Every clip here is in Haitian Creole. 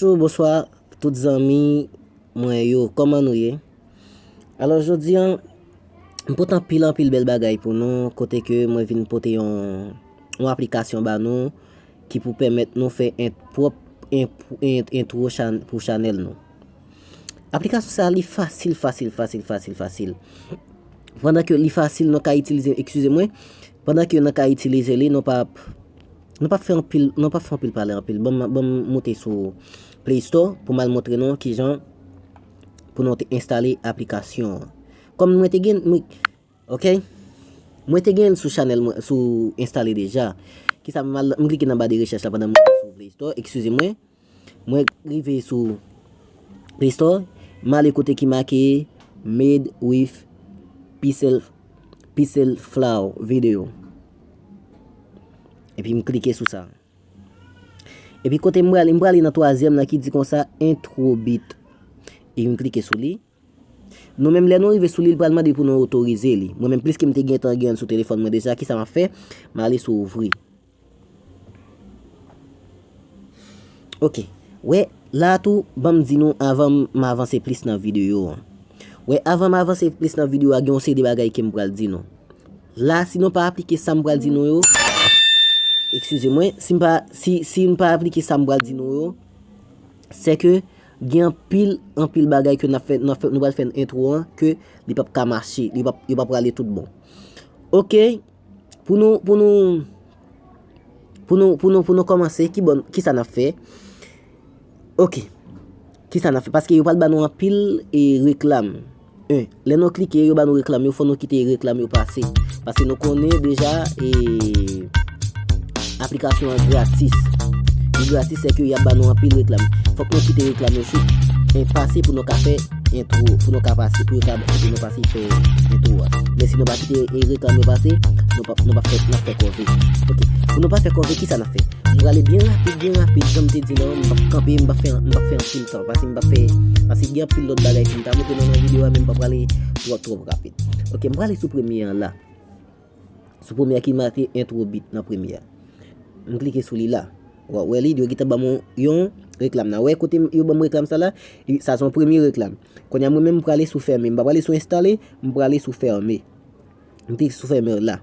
Bonjou bonswa tout zanmi mwen yo kòman nou ye alò jodi an m pot anpil anpil bèl bagay pou nou kote ke mwen vin pote yon yon aplikasyon ba nou ki pou pèmèt nou fè en pwòp en entwo pou chanèl nou aplikasyon sa li fasil fasil fasil fasil fasil pandan ke li fasil nou ka itilize eskize mwen pandan ke nou ka itilize li nou pa ap Nou pap fè anpil nou pap fè anpil pale anpil banm banm moute sou play store pou mal montre nou kijan pou nou te enstale aplikasyon an kòm mwen te gen mwen ok mwen te gen sou chanel mwen sou enstale deja kisa mal m klike nan ba de rechèch la pandan m sou play store eskize mwen Mwen rive sou Play Store, m ale kote ki make Made with Pixel Flow Video. Epi m klike sou sa. Epi kote m prale, m prale nan twazyèm la ki di konsa Intro Beat. Epi m klike sou li. Nou menm lè nou rive sou li li pral mande pou nou otorize li. Mwen menm pliske m te gentan gen l sou telefòn mwen deja kisa m ap fè? M ale sou ouvri. Ok, wè la tou ban m di nou avan m avanse plis nan videyo an. Wè avan m avanse plis nan videyo a gen yon seri de bagay ke m pral di nou. La si nou pa aplike sa m pral di nou yo, ekskize mwen, si m pa aplike sa m pral di nou yo, Se ke gen anpil, anpil bagay ke nap fè, nap fè, nou pral fè nan entwo an, ke li pap ka mache, li pap, li pap prale tout bon. Ok, pou nou, pou nou, pou nou, pou nou, pou nou komanse, ki bon, ki sa nap fè? Ok, ki sa nap fè? Paske yo pral ban nou anpil e reklam. 1 lè nou klike yo ba nou reklam yo fò nou kite reklam yo pase paske nou konnen deja e aplikasyon an gratis li gratis se ke yap ba nou anpil reklam fòk nou kite reklam yo sou e pase pou nou ka fè entro pou nou ka pase pou yo ka pou nou pase fè entro a men si nou pa kite e reklam yo pase nou pa nou pa fè nan fè kòve ok pou nou pa fè kòve kisa nan fè nou prale byen rapid byen rapid janm te di nou m pap kanpe m pap fè m pap fè anpil tan. Paske m pa fè, paske gen anpil lòt bagay pou m ta montre nou nan videyo a men m pa prale twòp twòp rapid. Ok, m prale sou premye an la. Sou premye an ki make entwo bit nan premye an. M klike sou li la. Wa wè li, yo gita ban mwen yon reklam nan. Wè kote yo ban mwen reklam sa la, sa son premye reklam. Konya mwen men m prale sou fèmen. M pa prale sou enstale, m prale sou fèmen. M klike sou fèmen la.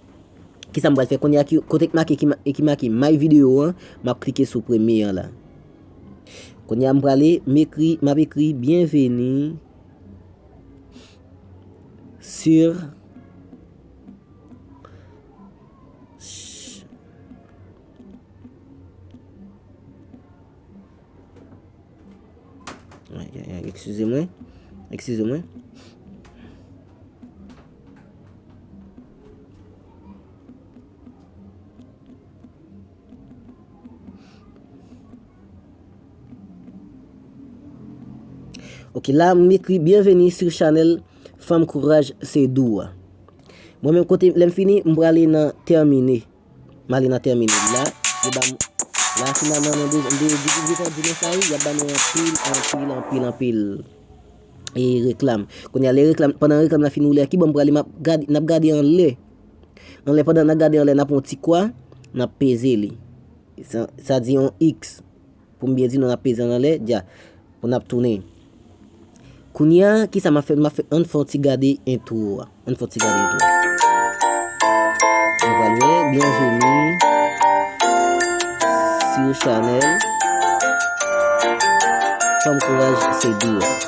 Kisa m pral fè kounye a ki kote ki make e ki make my video an m ap klike sou premye an la kounye a m prale m ekri m ap ekri byenveni sur eskize mwen eskize mwen Ok la m ekri byenveni sou chanel Fanm Kouraj se Dou a. Mwen menm kote lèm fini m prale nan termine. Mari nan termine la yo banm la finalman mwen bezwen mwen bezwen di detan di mwen sa wi yap bannou anpil anpil anpil anpil e reklam kounya lè reklam pandan reklam la fin woule a kibò m prale map gade nap gade anlè anlè pandan nap gade anlè nap pran yon ti kwa nap peze li sa di yon x Pou m byen di nou n ap peze l anlè, dja, pou n ap tounen. Kounye a, ki sa m ap fè? M ap fè, ann fè yon ti gade entwo a. Ann fè yon ti gade entwo a. Nou pral wè, byenveni sou chanèl Fanm Kouraj se Dou a.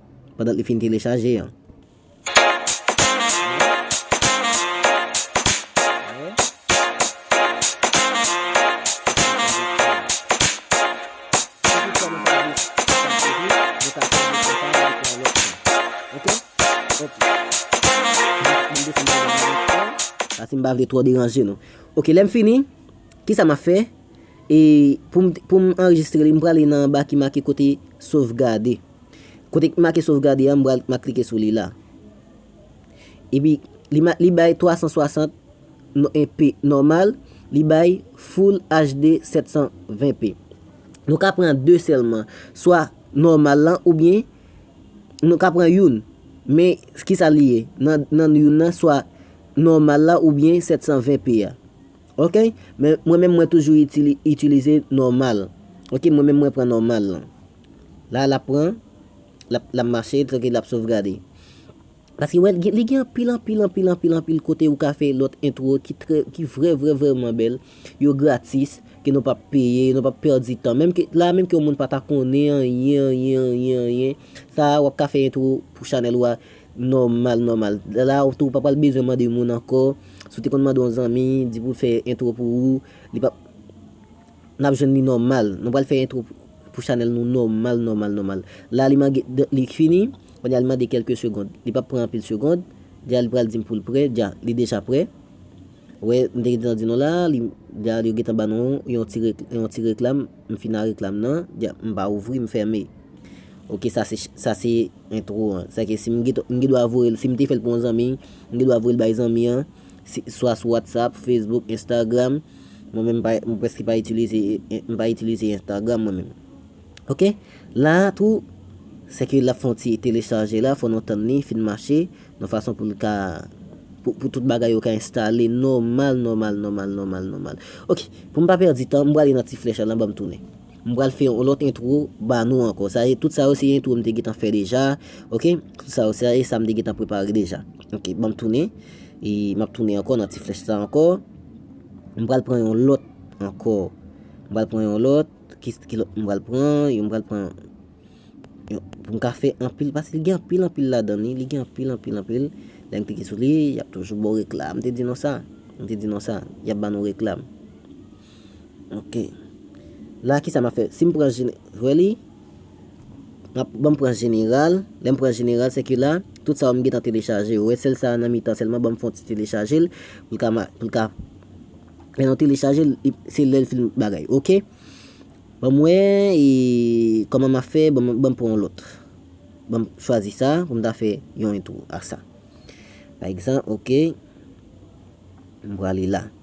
pandan li fin telechaje an. Paske m pa vle twò deranje nou. Ok, lè m fini, ki sa m ap fè? E pou m anrejistre li, m prale nan anba ki make kote sovgade. Kote ki make sovgade a m pral ma klike sou li la. Epi li bay 360 p nòmal, li bay full HD 720 p. Nou ka pran 2 sèlman, swa nòmal lan oubyen nou ka pran youn. Men ki sa li ye nan youn nan swa nòmal la oubyen 720 p a. Ok, men mwen menm mwen toujou itilize nòmal. Ok, mwen menm mwen pran nòmal lan. La lap pran, lap lap mache trankil lap sovgade. Paske wè li gen anpil anpil anpil anpil anpil kote ou ka fè lòt entwo ki trè ki vrè vrè vrèman bèl, yo gratis, ke nou pap peye, nou pap pèdi tan. Menm ke la menm ke yon moun pa ta konnen anyen anyen anyen anyen, sa a wap ka fè entwo pou chanèl ou a nòmal nòmal. La ou tou pa pral bezwen mande moun ankò, si w te konn mande yon zanmi, di pou l fè entwo pou ou, li pap. Nap jwenn li nòmal. Nou pral fè intro pou chanèl nou nòmal nòmal nòmal. La li mange li fini, konnya li mande kèlke segond. Li pap pran anpil segond. Dja li pral dim poul prè. Dja, li deja prè. Wè, m te gentan di nou la, li dja yo gentan ba nou yon ti yon ti reklam. M fini ak reklam nan. Dja, m pa ouvri, m fèmen. Ok sa se sa se intro an. Sa ke si m gen dwa voye l, si m te fè l pou yon zanmi, m gen dwa voye l bay zanmi an. swa sou whatsapp, facebook, instagram mwen menm m preske pa itilize m pa itilize instagram mwen menm ok la a tou se ke l ap fè yon ti telechaje la fò nou tann li fin mache yon fason pou l ka pou tout bagay yo ka enstale nòmal nòmal nòmal nòmal nòmal ok pou m pa pèdi tan m prale nan ti flèch la la ban m tounen. M pral fè yon lòt intro ba nou ankò sa e tout sa yo se intro m te gentan fè deja ok tout sa yo se sa m te gentan prepare deja ok bon m tounen e m ap tounen ankò nan ti flèch sa ankò m pral pran yon lòt ankò m pral pran yon lòt ki lòt m pral pran yo m pral pran pou m ka fè anpil pase li gen anpil anpil ladan li li gen anpil anpil anpil lè m klike sou li y ap toujou ba w reklam m te di nou sa m te di nou sa y ap ba nou reklam Ok la kisa map fè sim pran jene really map banm pran jeneral lèm pran jeneral sèke la tout sa yo m gentan telechaje yo wè sèl sa nan mitan sèlman banm fon ti telechaje l pou l ka pou l ka lè nou telechaje l se lèl fin bagay ok banm wè e kòman map fè banm pran yon lòt banm chwazi sa pou m ta fè yon entwo ak sa pa egzanp ok m prale la.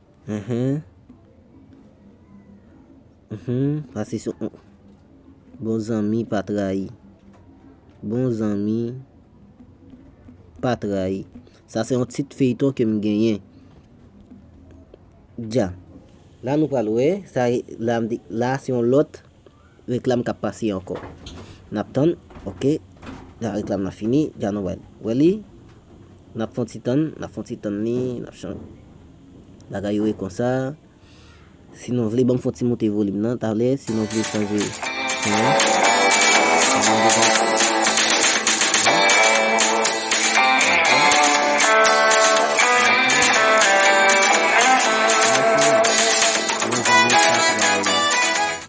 Bon zanmi pa trayi. Bon zanmi pa trayi. Sa se yon tit feyton ke m genyen. Dja. La nou pral wè. La se yon lòt. Reklam kap pase ankò nap tann ok jan reklam nan fini jan nou wè li nap fon ti tann nap fon ti tann li nap chan bagay yo ye konsa si nou vle banm fon ti moute volim nan talè si nou vle chanje son an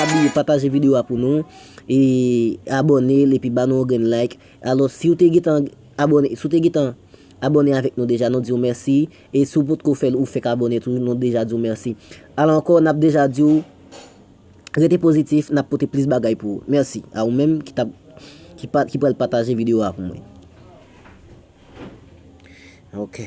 Pa bliye pataje video a pou nou e abone l epi ba nou yon grenn like alos si w te gentan abone si w te gentan abone avèk nou deja nou di w mèsi e si w potko fè l ou fèk abone tou nou deja di w mèsi al ankò n ap deja di w rete pozitif n ap pote plis bagay pou ou mèsi a ou menm ki tap ki pral pataje video a pou mwen ok.